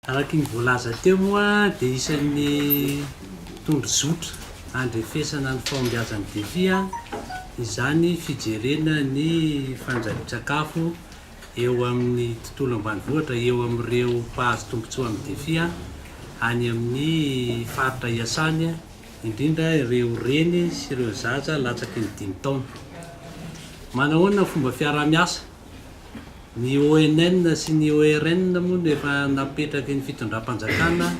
Araka ny voalaza teo moa dia isan'ny tondrozotra handrefesana ny fahombiazan'ny Defi izany fijerena ny fandrahoan-tsakafo eo amin'ny tontolo ambanivohitra eo amin'ireo mpahazo tombontsoa amin'ny Defi any amin'ny faritra iasany, indrindra ireo reny sy ireo zaza latsaky ny dimy taona. Manahoana ny fomba fiaraha-miasa? Ny ONN sy ny ORN moa no efa napetraky ny fitondram-panjakana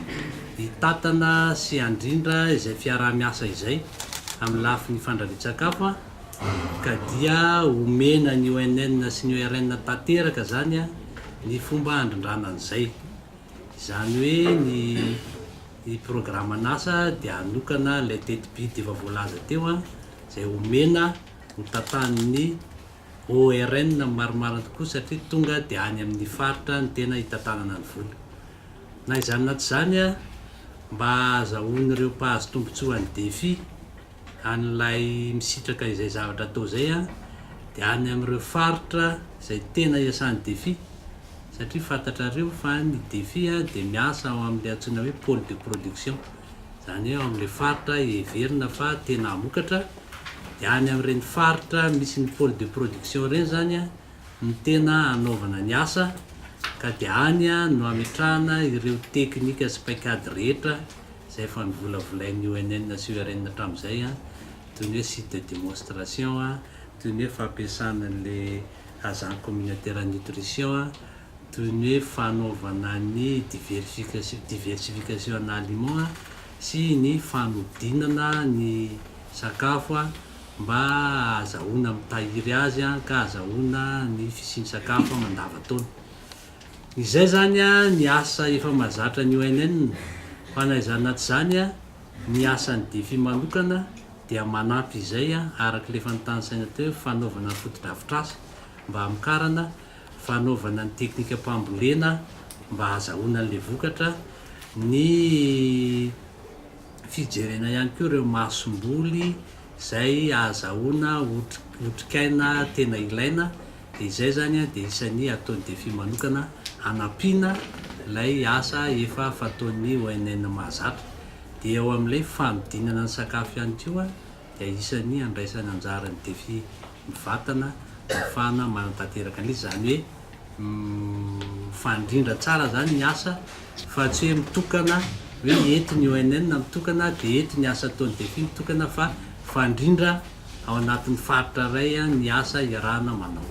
hitantana sy handrindra izay fiaraha-miasa izay amin'ny lafiny fandrarian-tsakafo ka dia omena ny ONN sy ny ORN tanteraka izany ny fomba handrindrana an'izay. Izany hoe ny programan'asa dia hanokana ilay tetibidy efa voalaza teo izay omena ho tantanin'ny Au RN ny marimarina tokoa satria tonga dia any amin ny faritra ny tena hitantanana ny vola. Na izany na tsy izany a, mba azahoan'ireo mpahazo tombontsoa ny defi an'ilay misitraka izay zavatra atao izay a, dia any amin'ireo faritra izay tena iasan'ny defi satria fantatrareo fa ny defi a dia miasa ao amin'ilay antsoina hoe pole de production. izany hoe ao amin'ilay faritra heverina fa tena hamokatra, dia any amin'ireny faritra misy ny pôle de production ireny izany no tena hanaovana ny asa ka dia any no hametrahana ireo teknika sy paikady rehetra izay efa novolavolain'ny ONN sy URN hatramin'izay, toy ny hoe site de démonstration, toy ny hoe fampiasana an'ilay agent communautaire nutrition, toy ny hoe fanaovana ny diversification, diversification en aliments, sy ny fanodinana ny sakafo mba hahazahoana mitahiry azy ka hahazahoana ny fisian'ny sakafo mandavan-taona. Izay izany ny asa efa mahazatra ny ONN fa na izany na tsy izany ny asan'ny Defi manokana dia manampy izay, araka ilay efa notanisaina teo, fanaovana fotodrafitrasa mba hamokarana fanaovana ny teknikam-pambolena mba hahazahoana an'ilay vokatra, ny fijerena ihany koa ireo masomboly izay ahazahoana otrikaina tena ilaina, dia izay izany dia isan'ny ataon'ny Defi manokana hanampiana ilay asa efa fataon'ny ONN mahazatra. Dia eo amin'ilay fanodinana ny sakafo ihany koa. dia isan'ny handraisany anjara ny Defi Mivatana ahafahana manatanteraka an'izy. Izany hoe mifandrindra tsara izany ny asa fa tsy hoe mitokana hoe eto ny ONN mitokana dia eto ny asa ataon'ny Defi mitokana fa mifandrindra ao anatin'ny faritra iray ny asa iarahana manao.